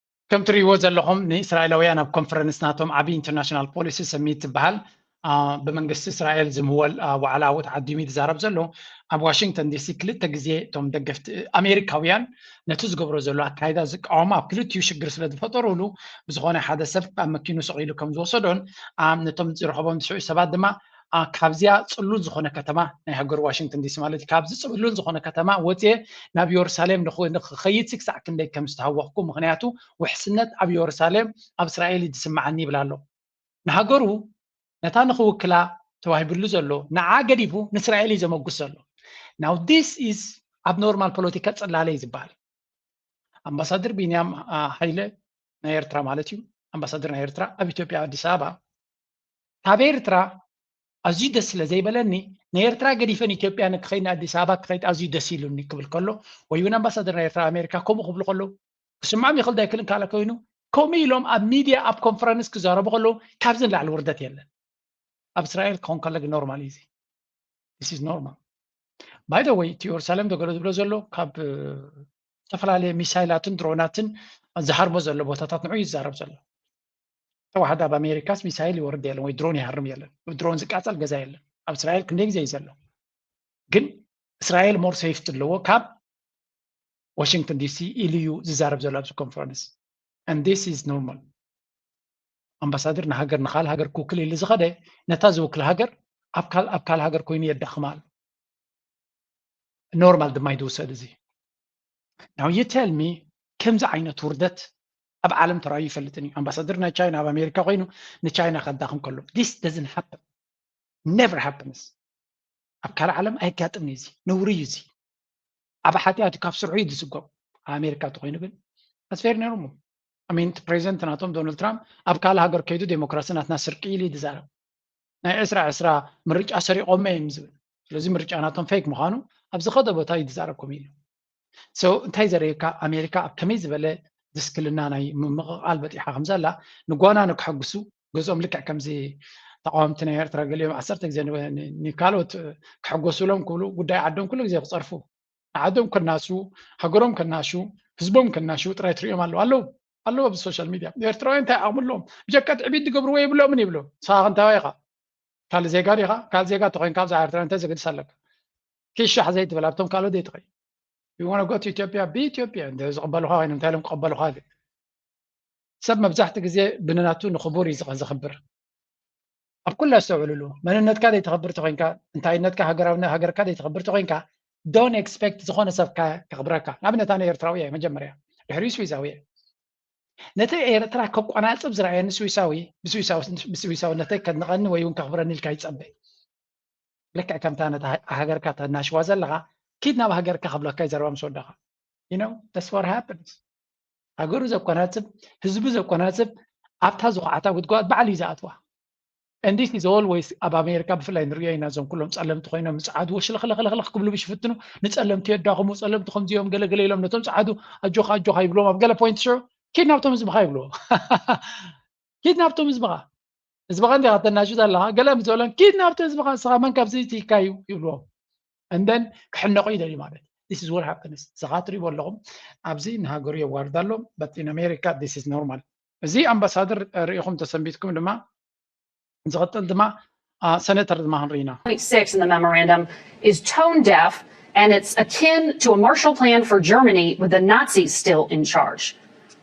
ከም ትርእይዎ ዘለኹም ንእስራኤላውያን ኣብ ኮንፈረንስ ናቶም ዓብዪ ኢንተርናሽናል ፖሊሲ ሰሚት ዝበሃል ብመንግስቲ እስራኤል ዝምወል ዋዕላ ዓወት ዓዲሙ ዝዛረብ ዘሎ ኣብ ዋሽንግተን ዲሲ ክልተ ግዜ እቶም ደገፍቲ ኣሜሪካውያን ነቲ ዝገብሮ ዘሎ ኣካይዳ ዝቃወማ ኣብ ክልቲኡ ሽግር ስለ ዝፈጠሩሉ ብዝኾነ ሓደ ሰብ ኣብ መኪኑ ሰቂሉ ከም ዝወሰዶን ነቶም ዝረኸቦም ዝስዑ ሰባት ድማ ካብዚኣ ፅሉል ዝኾነ ከተማ ናይ ሃገር ዋሽንግተን ዲሲ ማለት እዩ ካብዚ ፅሉል ዝኾነ ከተማ ወፅየ ናብ የሩሳሌም ንክኸይድ ሲ ክሳዕ ክንደይ ከም ዝተሃወኽኩ ምክንያቱ ውሕስነት ኣብ የሩሳሌም ኣብ እስራኤል እዩ ዝስምዓኒ ይብል ኣሎ ንሃገሩ ነታ ንክውክላ ተዋሂብሉ ዘሎ ንዓ ገዲፉ ንእስራኤል እዩ ዘመጉስ ዘሎ ናው ዲስ ኢዝ ኣብ ኖርማል ፖለቲካ ፅላለ እዩ ዝበሃል ኣምባሳደር ቢንያም ሃይለ ናይ ኤርትራ ማለት እዩ ኣምባሳደር ናይ ኤርትራ ኣብ ኢትዮጵያ ኣዲስ ኣበባ ካብ ኤርትራ ኣዝዩ ደስ ስለ ዘይበለኒ ንኤርትራ ገዲፈ ንኢትዮጵያ ንክኸይድ ንኣዲስ ኣበባ ክኸይድ ኣዝዩ ደስ ኢሉኒ ክብል ከሎ ወይ እውን ኣምባሳደር ናይ ኤርትራ ኣሜሪካ ከምኡ ክብሉ ከለዉ ክስምዖም ይኽእል ዶ ኣይክእልን ካልእ ኮይኑ ከምኡ ኢሎም ኣብ ሚድያ ኣብ ኮንፈረንስ ክዛረቡ ከለዉ ካብዚ ንላዕሊ ውርደት የለን ኣብ እስራኤል ክኸውን ከሎ ግን ኖርማል እዩ እዚ ስ ኖርማል ባይ ወይ እቲ የሩሳሌም ደገሎ ዝብሎ ዘሎ ካብ ዝተፈላለየ ሚሳይላትን ድሮናትን ዝሃርሞ ዘሎ ቦታታት ንዑ ይዛረብ ዘሎ ተዋሕዶ ኣብ ኣሜሪካስ ሚሳይል ይወርድ የለን ወይ ድሮን ይሃርም የለን ድሮን ዝቃፀል ገዛ የለን ኣብ እስራኤል ክንደይ ግዜ እዩ ዘሎ ግን እስራኤል ሞር ሴፍቲ ኣለዎ ካብ ዋሽንግተን ዲሲ ኢሉ እዩ ዝዛረብ ዘሎ ኣብዚ ኮንፈረንስ and this is normal ኣምባሳደር ንሃገር ንካል ሃገር ክውክል ኢሉ ዝኸደ ነታ ዝውክል ሃገር ኣብ ካል ሃገር ኮይኑ የዳኽማ ኣሎ ኖርማል ድማ ይድውሰድ እዚ ናው ዩ ቴል ሚ ከምዚ ዓይነት ውርደት ኣብ ዓለም ተራዩ ይፈልጥን እዩ ኣምባሳደር ናይ ቻይና ኣብ ኣሜሪካ ኮይኑ ንቻይና ከዳኽም ከሎ ዲስ ደዝን ሃፕን ነቨር ሃፕንስ ኣብ ካልእ ዓለም ኣይጋጥም እዩ እዚ ነውሪ እዩ እዚ ዓብ ሓጢኣት ካብ ስርሑ እዩ ዝስጎም ኣብ ኣሜሪካ እንተኮይኑ ግን ኣስፌር ነይሮሞ ኣሜንቲ ፕሬዚደንት ናቶም ዶናልድ ትራምፕ ኣብ ካልእ ሃገር ከይዱ ዴሞክራሲ ናትና ስርቂ ኢሉ እዩ ዝዛረብ ናይ ዕስራ ዕስራ ምርጫ ሰሪቆመ እዮም ዝብል ስለዚ ምርጫ ናቶም ፌክ ምዃኑ ኣብ ዝኸደ ቦታ እዩ ዝዛረብ ኮሚሉ ሶ እንታይ ዘርእየካ ኣሜሪካ ኣብ ከመይ ዝበለ ድስክልና ናይ ምምቕቓል በጢሓ ከም ዘላ ንጓና ንክሕግሱ ገዝኦም ልክዕ ከምዚ ተቃወምቲ ናይ ኤርትራ ገሊኦም ዓሰርተ ግዜ ንካልኦት ክሕጎሱሎም ክብሉ ጉዳይ ዓዶም ኩሉ ግዜ ክፀርፉ ንዓዶም ከናሱ ሃገሮም ከናሹ ህዝቦም ከናሹ ጥራይ ትሪኦም ኣለዉ ኣለዉ ኣለዉ ኣብዚ ሶሻል ሚድያ ኤርትራውያን እንታይ ዓቕሚ ኣለዎም ብጀካ ትዕቢት ዝገብርዎ የብሎምን ይብሉ ንስኻ ክንታዋይ ኢኻ ካልእ ዜጋ ዲኻ ካልእ ዜጋ ተኮይንካ ብዛዕባ ኤርትራ እንታይ ዘገድስ ኣለካ ኪሻሕ ዘይትብል ኣብቶም ካልኦት ዘይትኸይ ይሆነ ጎት ኢትዮጵያ ብኢትዮጵያ እንደ ዝቕበልኻ ኮይኑ እንታይ ኢሎም ክቐበልኻ ዝብል ሰብ መብዛሕቲ ግዜ ብንናቱ ንኽቡር እዩ ዝኽብር ኣብ ኩላ ኣስተውዕልሉ መንነትካ ዘይተኽብር ተኮይንካ እንታይነትካ ሃገራዊ ሃገርካ ዘይተኽብር ተኮይንካ ዶን ኤክስፔክት ዝኾነ ሰብካ ከኽብረካ ንኣብነት ኣነ ኤርትራዊ እየ መጀመርያ ድሕሪ ስዊሳዊ እየ ነቲ ኤርትራ ከቋናፅብ ዝረኣየኒ ስዊሳዊ ብስዊሳዊነተይ ከድንቐኒ ወይ እውን ከኽብረኒ ኢልካ ይፀበ ልክዕ ከምታ ነታ ሃገርካ ተናሽዋ ዘለኻ ኪድ ናብ ሃገርካ ክብለካ ዘረባ ምስ ወዳኻ ዩኖ ዳስ ዋት ሃፕንስ ሃገሩ ዘኮናጽብ ህዝቡ ዘኮናጽብ ኣብታ ዝኹዓታ ጉድጓድ ባዕሉ እዩ ዝኣትዋ እንዲስ ኢዝ ኦልወይስ ኣብ ኣሜሪካ ብፍላይ ንሪኦ ኢና እዞም ኩሎም ፀለምቲ ኮይኖም ንፀዓዱ ወሽልኽልኽልኽልኽ ክብሉ ብሽፍትኑ ንፀለምቲ የዳኽሙ ፀለምቲ ከምዚኦም ገለገለ ኢሎም ነቶም ፀዓዱ ኣጆኻ ኣጆኻ ይብሎም ኣብ ገለ ፖይንት ሽዑ ኪድ ናብቶም ህዝብኻ ይብልዎ ኪድ ናብቶም ህዝብኻ ህዝብኻ እንዲኻ ተናሹ ዘለኻ ገለ ምስ በሎም ኪድ ናብቲ ህዝብኻ ንስኻ መን ካብዚ ትይካ እዩ ይብልዎም እንደን ክሕነቑ ይደልዩ ማለት ስ ወር ሃፕንስ ንስኻ ትሪእዎ ኣለኹም ኣብዚ ንሃገሩ የዋርድ ኣሎ በት ኢን ኣሜሪካ ስ ስ ኖርማል እዚ ኣምባሳደር ርኢኹም ተሰንቢትኩም ድማ ዝቕጥል ድማ ሰነተር ድማ ክንርኢ ኢና and it's akin to a Marshall Plan for Germany with the Nazis still in charge.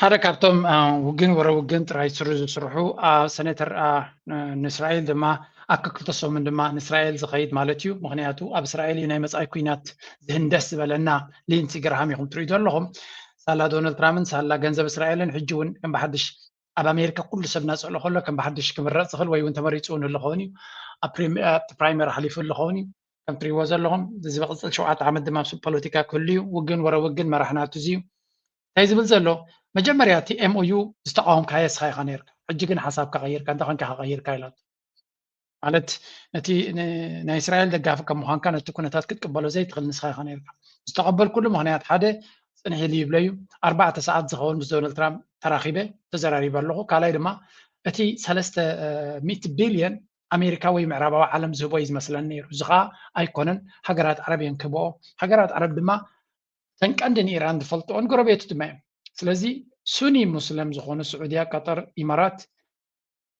ሓደ ካብቶም ውግን ወረ ውግን ጥራይ ስሩ ዝስርሑ ሰነተር ንእስራኤል ድማ ኣብ ክልተ ሰሙን ድማ ንእስራኤል ዝኸይድ ማለት እዩ ምክንያቱ ኣብ እስራኤል እዩ ናይ መፃኢ ኩናት ዝህንደስ ዝበለና ሊንሲ ግርሃም ኢኹም ትሪኡ ዘለኹም ሳላ ዶናልድ ትራምፕን ሳላ ገንዘብ እስራኤልን ሕጂ እውን ከም ብሓድሽ ኣብ ኣሜሪካ ኩሉ ሰብ እናፀሎ ከሎ ከም ብሓድሽ ክምረፅ ዝኽእል ወይ እውን ተመሪፁ እውን ኣለኸውን እዩ ኣብ ፕራይመር ሓሊፉ ኣለኸውን እዩ ከም ትሪእዎ ዘለኹም እዚ ዝቕፅል ሸውዓተ ዓመት ድማ ኣብ ፖለቲካ ክህሉ እዩ ውግን ወረ ውግን መራሕና እዚ እዩ እንታይ ዝብል ዘሎ መጀመርያ እቲ ኤምኦዩ ዝተቃወምካዮ እስኻ ኢኻ ነርካ ሕጂ ግን ሓሳብካ ቀይርካ እንታይ ኮንካ ከቀይርካ ኢላቶ ማለት ነቲ ናይ እስራኤል ደጋፊ ከም ምዃንካ ነቲ ኩነታት ክትቅበሎ ዘይትኽእል ንስኻ ኢኻ ነርካ ዝተቐበልኩሉ ምክንያት ሓደ ፅንሕ ኢሉ ይብለ እዩ ኣርባዕተ ሰዓት ዝኸውን ምስ ዶናልድ ትራምፕ ተራኺበ ተዘራሪበ ኣለኹ ካልኣይ ድማ እቲ ሰለስተ ሚእቲ ቢልዮን ኣሜሪካ ወይ ምዕራባዊ ዓለም ዝህቦ እዩ ዝመስለን ነይሩ። እዚ ከኣ ኣይኮነን፣ ሃገራት ዓረብ እየን ክህብኦ። ሃገራት ዓረብ ድማ እተን ቀንዲ ንኢራን ዝፈልጥኦን ጎረቤቱ ድማ እየን። ስለዚ ሱኒ ሙስለም ዝኾኑ ስዑድያ፣ ቀጠር፣ ኢማራት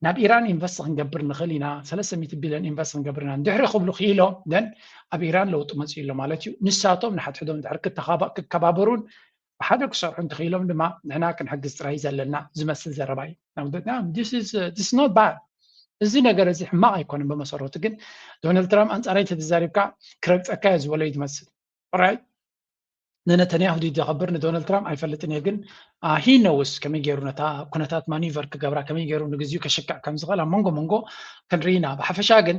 ናብ ኢራን ኢንቨስት ክንገብር ንኽእል ኢና፣ ሰለስተ ሚእቲ ቢልዮን ኢንቨስት ክንገብር ኢና እንድሕሪ ክብሉ ክኢሎም፣ then ኣብ ኢራን ለውጢ መጺኡ ኣሎ ማለት እዩ። ንሳቶም ንሓድሕዶም እንድሕሪ ክከባበሩን ብሓደ ክሰርሑ እንተኽኢሎም ድማ ንሕና ክንሕግዝ ጥራይ እዩ ዘለና ዝመስል ዘረባ እዩ እዚ ነገር እዚ ሕማቕ ኣይኮነን ብመሰረቱ ግን ዶናልድ ትራምፕ ኣንፃረይ ተተዛሪብካ ክረግፀካ እየ ዝበሎ እዩ ዝመስል ራይ ንነተንያሁ ድዩ ዘኽብር ንዶናልድ ትራምፕ ኣይፈልጥን እየ ግን ሂ ነውስ ከመይ ገይሩ ነታ ኩነታት ማኒቨር ክገብራ ከመይ ገይሩ ንግዚኡ ከሽክዕ ከም ዝኽእል ኣብ መንጎ መንጎ ክንርኢ ኢና ብሓፈሻ ግን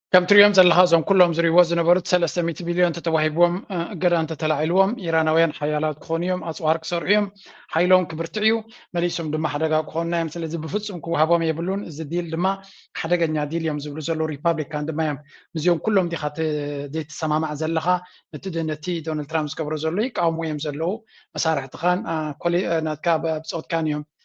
ከም ትሪኦም ዘለኻ እዞም ኩሎም ዝሪእዎ ዝነበሩት ሰለስተ ሚእቲ ቢልዮን ተተዋሂብዎም እገዳ እንተተላዒልዎም ኢራናውያን ሓያላት ክኾኑ እዮም፣ ኣፅዋር ክሰርሑ እዮም፣ ሓይሎም ክብርትዕ እዩ፣ መሊሶም ድማ ሓደጋ ክኾኑና እዮም፣ ስለዚ ብፍፁም ክወሃቦም የብሉን፣ እዚ ዲል ድማ ሓደገኛ ዲል እዮም ዝብሉ ዘለዉ ሪፓብሊካን ድማ እዮም። ምስዚኦም ኩሎም ዲኻ ዘይትሰማማዕ ዘለኻ? ነቲ ነቲ ዶናልድ ትራምፕ ዝገብሮ ዘሎ ይቃወምዎ እዮም ዘለዉ፣ መሳርሕትኻን ናትካ ብፆትካን እዮም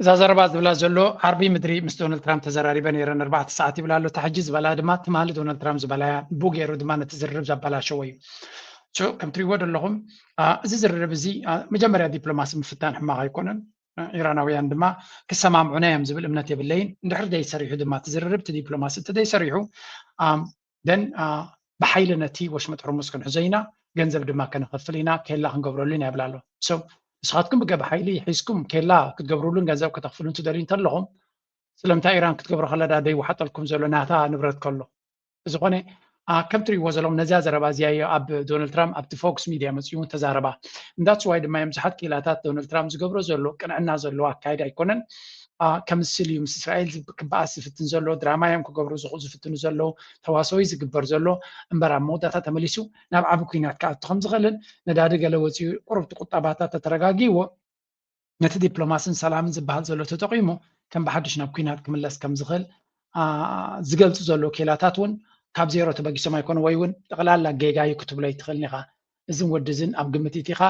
እዛ ዘረባ ዝብላ ዘሎ ዓርቢ ምድሪ ምስ ዶናልድ ትራምፕ ተዘራሪበ ነይረ ንኣርባዕተ ሰዓት ይብላ ኣሎ እታ ሕጂ ዝበላ ድማ ትማሊ ዶናልድ ትራምፕ ዝበላ እያ ንቡ ገይሩ ድማ ነቲ ዝርርብ ዘበላሸዎ እዩ ከም ትሪእዎ ዘለኹም እዚ ዝርርብ እዚ መጀመርያ ዲፕሎማሲ ምፍታን ሕማቕ ኣይኮነን ኢራናውያን ድማ ክሰማምዑና እዮም ዝብል እምነት የብለይን እንድሕር ዘይሰሪሑ ድማ ትዝርርብ ትዲፕሎማሲ እንተዘይሰሪሑ ደን ብሓይሊ ነቲ ወሽመጥ ሕርሙዝ ክንሕዞ ኢና ገንዘብ ድማ ከነኸፍል ኢና ኬላ ክንገብረሉ ኢና ይብላ ኣሎ ሰው ንስኻትኩም ብገብ ሓይሊ ሒዝኩም ኬላ ክትገብርሉን ገንዘብ ከተኽፍሉን ትደልዩ እንተለኹም ስለምንታይ ኢራን ክትገብሮ ከለዳ ደይወሓጠልኩም ዘሎ ናታ ንብረት ከሎ ዝኾነ ከም ትሪእዎ ዘለኹም ነዚያ ዘረባ እዚኣ እዮ ኣብ ዶናልድ ትራምፕ ኣብቲ ፎክስ ሚድያ መፅኡ እውን ተዛረባ እንዳፅዋይ ድማ እዮም ብዙሓት ክኢላታት ዶናልድ ትራምፕ ዝገብሮ ዘሎ ቅንዕና ዘለዎ ኣካየድ ኣይኮነን ከምስል እዩ ምስ እስራኤል ክበኣስ ዝፍትን ዘሎ ድራማ እዮም ክገብሩ ዝፍትኑ ዘለዉ ተዋሰዊ ዝግበር ዘሎ እምበር ኣብ መወዳእታ ተመሊሱ ናብ ዓቢ ኩናት ክኣቱ ከም ዝኽእልን ነዳዲ ገለ ወፂኡ ቁርብቲ ቁጠባታት ተተረጋጊዎ ነቲ ዲፕሎማስን ሰላምን ዝበሃል ዘሎ ተጠቂሙ ከም ብሓድሽ ናብ ኩናት ክምለስ ከም ዝኽእል ዝገልፁ ዘለዉ ኬላታት እውን ካብ ዜሮ ተበጊሶም ኣይኮኑ ወይ እውን ጠቕላላ ጌጋ እዩ ክትብሎ ኣይትኽእልን ኢኻ እዝን ወዲ እዝን ኣብ ግምት እቲኻ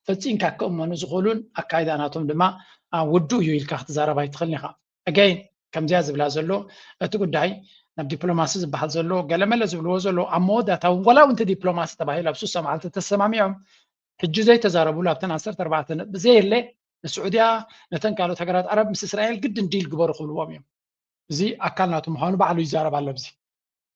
ፈጺንካ ክእመኑ ዝኽእሉን ኣካይዳ ናቶም ድማ ውዱእ እዩ ኢልካ ክትዛረብ ኣይትኽእልን ኢኻ again ከምዚኣ ዝብላ ዘሎ እቲ ጉዳይ ናብ ዲፕሎማሲ ዝበሃል ዘሎ ገለመለ ዝብልዎ ዘሎ ኣብ መወዳእታ እውን ዋላ እውንቲ ዲፕሎማሲ ተባሂሉ ኣብ ሱሳ መዓልቲ ተሰማሚዖም ሕጂ ዘይተዛረብሉ ኣብተን ዓሰርተ ኣርባዕተ ነጥቢ ዘየለ ንስዑድያ ነተን ካልኦት ሃገራት ዓረብ ምስ እስራኤል ግድን ዲል ግበሩ ክብልዎም እዮም እዚ ኣካል ናቱ ምዃኑ ባዕሉ ይዛረብ ኣሎ ኣብዚ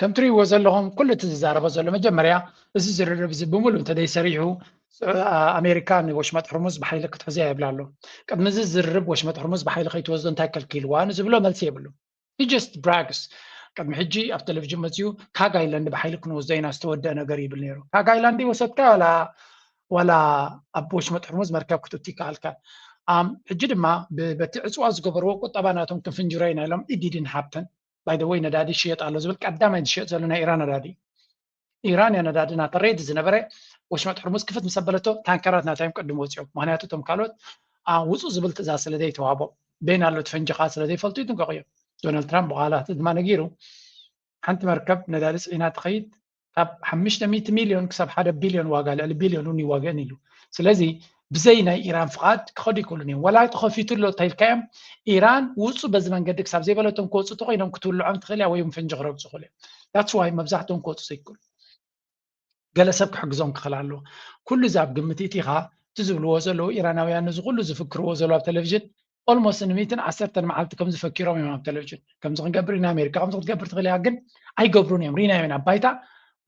ከም ትርእይዎ ዘለኹም ኩሉ እቲ ዝዛረቦ ዘሎ መጀመርያ እዚ ዝርርብ እዚ ብምሉእ እንተዘይሰሪሑ ኣሜሪካ ንወሽመጥ ሕርሙዝ ብሓይሊ ክትሕዘ እያ ይብላ ኣሎ ቅድሚ እዚ ዝርርብ ወሽመጥ ሕርሙዝ ብሓይሊ ከይትወስዶ እንታይ ከልኪልዋ ንዝብሎ መልሲ የብሉ ጀስት ብራግስ ቅድሚ ሕጂ ኣብ ቴሌቭዥን መፅኡ ካብ ኣይላንድ ብሓይሊ ክንወስዶ ኢና ዝተወደአ ነገር ይብል ነይሩ ካብ ኣይላንድ ወሰድካ ዋላ ዋላ ኣብ ወሽመጥ ሕርሙዝ መርከብ ክትእቱ ይከኣልካ ሕጂ ድማ በቲ ዕፅዋ ዝገበርዎ ቁጠባ ናቶም ክንፍንጅሮ ኢና ኢሎም ኢዲድን ሃብተን ባይ ዘ ወይ ነዳዲ ይሽየጥ ኣሎ ዝብል ቀዳማይ ዝሸየጥ ዘሎ ናይ ኢራን ነዳዲ እዩ ኢራን እያ ነዳዲ ናተ ሬድ ዝነበረ ወሽመጥ ሕርሙዝ ክፍት ምስ ኣበለቶ ታንከራት ናታ እዮም ቅድም ወፂኦም ምክንያቱ እቶም ካልኦት ውፁ ዝብል ትእዛዝ ስለ ዘይተዋህቦ በይን ኣሎ ፈንጂኻ ስለ ዘይፈልጡ ይጥንቀቑ እዮም ዶናልድ ትራምፕ ብቃላት ድማ ነጊሩ ሓንቲ መርከብ ነዳዲ ፅዒና ትኸይድ ካብ ሓሙሽተ ሚእቲ ሚልዮን ክሳብ ሓደ ቢልዮን ዋጋ ልዕሊ ቢልዮን እውን ይዋገእን ኢሉ ስለዚ ብዘይ ናይ ኢራን ፍቓድ ክኸዱ ይክእሉን እዮም ወላ ተኸፊቱ ኣሎ ተልካዮም ኢራን ውፁ በዚ መንገዲ ክሳብ ዘይበለቶም ክወፁ ተኮይኖም ክትውልዖም ትኽእል እያ ወይ ፈንጂ ክረግፁ ክእሉ እዮም ዳትስ ዋይ መብዛሕትኦም ክወፁ ዘይክእሉ ገለ ሰብ ክሕግዞም ክኽእል ኣለዎ ኩሉ እዚ ኣብ ግምት እቲኻ እቲ ዝብልዎ ዘለዉ ኢራናውያን እዚ ኩሉ ዝፍክርዎ ዘለዉ ኣብ ቴሌቭዥን ኦልሞስት ንሚትን ዓሰርተን መዓልቲ ከምዚ ፈኪሮም እዮም ኣብ ቴሌቭዥን ከምዚ ክንገብር ኢና ኣሜሪካ ከምዚ ክትገብር ትኽእል እያ ግን ኣይገብሩን እዮም ሪናዮ ኢና ባይታ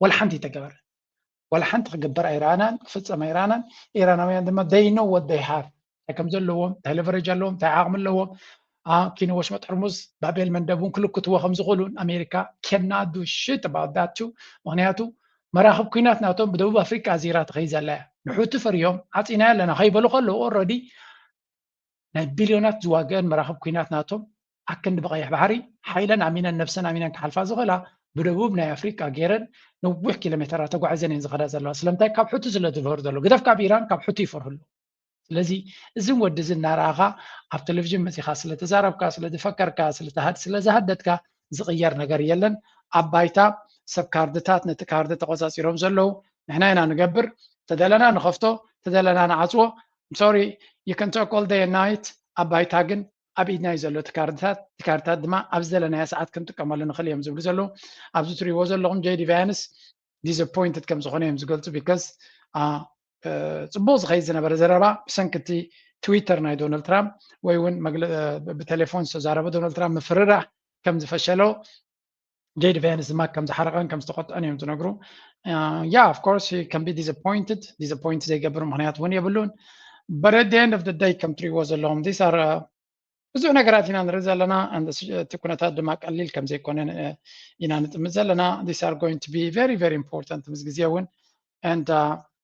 ዋላ ሓንቲ ይተገበር ዋላ ሓንቲ ክግበር ኣይረኣናን ክፍፀም ኣይረኣናን ኢራናውያን ድማ ደይ ኖ ወት ደይ ሃቭ እንታይ ከም ዘለዎም እንታይ ለቨረጅ ኣለዎም እንታይ ዓቕሚ ኣለዎም ኪኒ ወሽመጥ ሕርሙዝ ባቤል መንደብ እውን ክልክትዎ ከም ዝኽእሉን ኣሜሪካ ኬናዱ ሽት ባዳቱ ምክንያቱ መራኽብ ኩናት ናቶም ብደቡብ ኣፍሪቃ ዚራ ትኸይ ዘላ እያ ንሑቲ ፈርዮም ዓፂናዮ ኣለና ከይበሉ ከለዉ ኦረዲ ናይ ቢልዮናት ዝዋግአን መራኽብ ኩናት ናቶም ኣክንዲ ብቀይሕ ባሕሪ ሓይለን ኣሚነን ነብሰን ኣሚነን ክሓልፋ ዝኽእላ ብደቡብ ናይ ኣፍሪቃ ገይረን ነዊሕ ኪሎ ሜተራት ተጓዒዘን እየን ዝኸዳ ዘለዋ ስለምንታይ ካብ ሑቲ ስለ ዝፈሩ ዘሎ ግደፍ ካብ ኢራን ካብ ሑቲ ይፈርሁ ኣለዉ ስለዚ እዝን ወዲ እዚ እናረኣኻ ኣብ ቴሌቭዥን መፂኻ ስለተዛረብካ ስለዝፈከርካ ስለዝሃደትካ ዝቕየር ነገር የለን ኣብ ባይታ ሰብ ካርድታት ነቲ ካርዲ ተቆፃፂሮም ዘለዉ ንሕና ኢና ንገብር ተደለና ንኸፍቶ ተደለና ንዓፅዎ I'm sorry you can talk all day and night ኣብ ባይታ ግን ኣብ ኢድና እዩ ዘሎ እቲ ካርድታት እቲ ካርድታት ድማ ኣብ ዝደለናዮ ሰዓት ክንጥቀመሉ ንኽእል እዮም ዝብሉ ዘለዉ ኣብዚ ትሪእዎ ዘለኹም ጀዲ ቫያንስ ዲስፖይንትድ ከም ዝኾነ እዮም ዝገልፁ ቢካዝ ፅቡቅ ዝኸይድ ዝነበረ ዘረባ ብሰንኪ እቲ ትዊተር ናይ ዶናልድ ትራምፕ ወይ እውን ብቴሌፎን ዝተዛረበ ዶናልድ ትራምፕ ምፍርራህ ከም ዝፈሸሎ ጄዲ ቬንስ ድማ ከም ዝሓረቐን ከም ዝተቆጥዐን እዮም ዝነግሩ ያ ኦፍ ኮርስ ከም ቢ ዲስፖይንትድ ዲስፖይንት ዘይገብር ምክንያት እውን የብሉን በት ኣት ኤንድ ኦፍ ደይ ከም ትሪእዎ ዘለዎም ዚስ ኣር ብዙሕ ነገራት ኢና ንርኢ ዘለና እቲ ኩነታት ድማ ቀሊል ከም ዘይኮነ ኢና ንጥምት ዘለና ዚስ ኣር ጎይን ቱ ቢ ቨሪ ቨሪ ኢምፖርታንት ምስ ግዜ እውን ንድ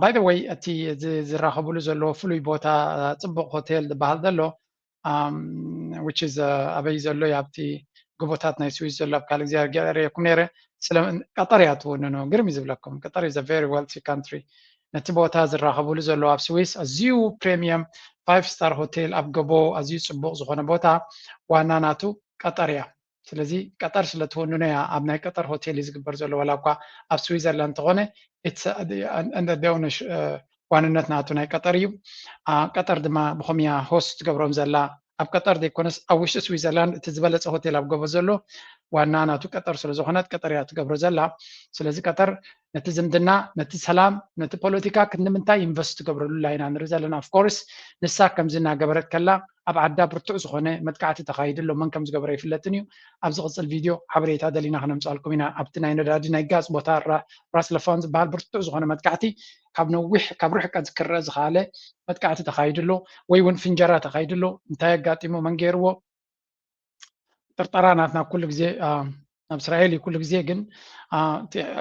ባይ ዘ ወይ እቲ ዝራኸብሉ ዘለዎ ፍሉይ ቦታ ፅቡቕ ሆቴል ዝበሃል ዘሎ ዊች ኢዝ ኣበይ ዘሎ እዩ ኣብቲ ጎቦታት ናይ ስዊዝ ዘሎ ኣብ ካልእ ግዜ ገለ ርእየኩም ነይረ ስለ ቀጠር እያ ትውንኑ ግርም እዩ ዝብለኩም ቀጠር ኢዝ ቨሪ ዌልቲ ካንትሪ ነቲ ቦታ ዝራኸብሉ ዘሎ ኣብ ስዊስ ኣዝዩ ፕሬሚየም ፋይቭ ስታር ሆቴል ኣብ ገቦ ኣዝዩ ፅቡቕ ዝኾነ ቦታ ዋና ናቱ ቀጠር እያ ስለዚ ቀጠር ስለ ትውንኖ እያ ኣብ ናይ ቀጠር ሆቴል እዩ ዝግበር ዘሎ ዋላ እኳ ኣብ ስዊዘርላንድ እንተኾነ ዋንነት ናቱ ናይ ቀጠር እዩ ቀጠር ድማ ብኸም እያ ሆስት ትገብሮም ዘላ ኣብ ቀጠር ዘይኮነስ ኣብ ውሽጢ ስዊዘርላንድ እቲ ዝበለፀ ሆቴል ኣብ ገቦ ዘሎ ዋና ናቱ ቀጠር ስለ ዝኾነት ቀጠር እያ ትገብሮ ዘላ ስለዚ ቀጠር ነቲ ዝምድና ነቲ ሰላም ነቲ ፖለቲካ ክንምንታይ ኢንቨስት ትገብረሉላ ኢና ንርኢ ዘለና ኣፍኮርስ ንሳ ከምዚ እናገበረት ከላ ኣብ ዓዳ ብርቱዕ ዝኾነ መጥቃዕቲ ተኻይዱ ኣሎ መን ከም ዝገበረ ይፍለጥን እዩ ኣብ ዝቕፅል ቪድዮ ሓበሬታ ደሊና ክነምፃልኩም ኢና ኣብቲ ናይ ነዳዲ ናይ ጋዝ ቦታ ራስ ለፋን ዝበሃል ብርቱዕ ዝኾነ መጥቃዕቲ ካብ ነዊሕ ካብ ርሕቀት ክረአ ዝኸኣለ መጥቃዕቲ ተኻይዱ ኣሎ ወይ እውን ፍንጀራ ተኻይዱ ኣሎ እንታይ ኣጋጢሙ መን ገይርዎ ጥርጠራ ናትና ኩሉ ግዜ ናብ እስራኤል እዩ ኩሉ ግዜ ግን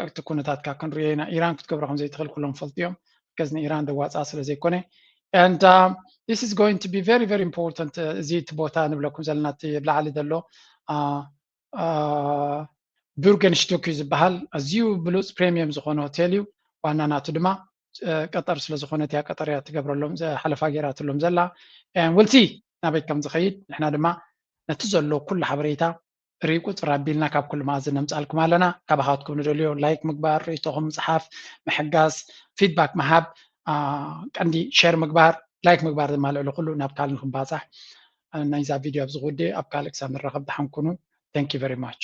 እቲ ኩነታትካ ክንሪኦ ኢና ኢራን ክትገብሮ ከም ዘይትኽእል ኩሎም ይፈልጡ እዮም ከዚ ንኢራን ደዋፃ ስለ ዘይኮነ and uh, this is going to be very very important እዚ እቲ ቦታ ንብለኩም ዘለና እቲ ኣብ ላዕሊ ዘሎ ቡርገንሽቱክ እዩ ዝበሃል ኣዝዩ ብሉፅ ፕሬሚየም ዝኾነ ሆቴል እዩ ዋና ናቱ ድማ ቀጠር ስለ ዝኾነት እያ ቀጠር እያ ትገብረሎም ሓለፋ ገይራትሎም ዘላ ውልሲ ናበይ ከም ዝኸይድ ንሕና ድማ ነቲ ዘሎ ኩሉ ሓበሬታ ርኢ ቁፅር ኣቢልና ካብ ኩሉ መኣዝ ነምፃልኩም ኣለና ካባኻትኩም ንደልዮ ላይክ ምግባር ርእቶኹም ምፅሓፍ ምሕጋዝ ፊድባክ ምሃብ ቀንዲ ሸር ምግባር ላይክ ምግባር ድማ ልዕሊ ኩሉ ናብ ካልእ ንክንባፃሕ ናይዛ ቪድዮ ኣብዚ ክውድእ ኣብ ካልእ ክሳብ ንራኸብ ደሓን ኩኑ ተንኪ ቨሪ ማች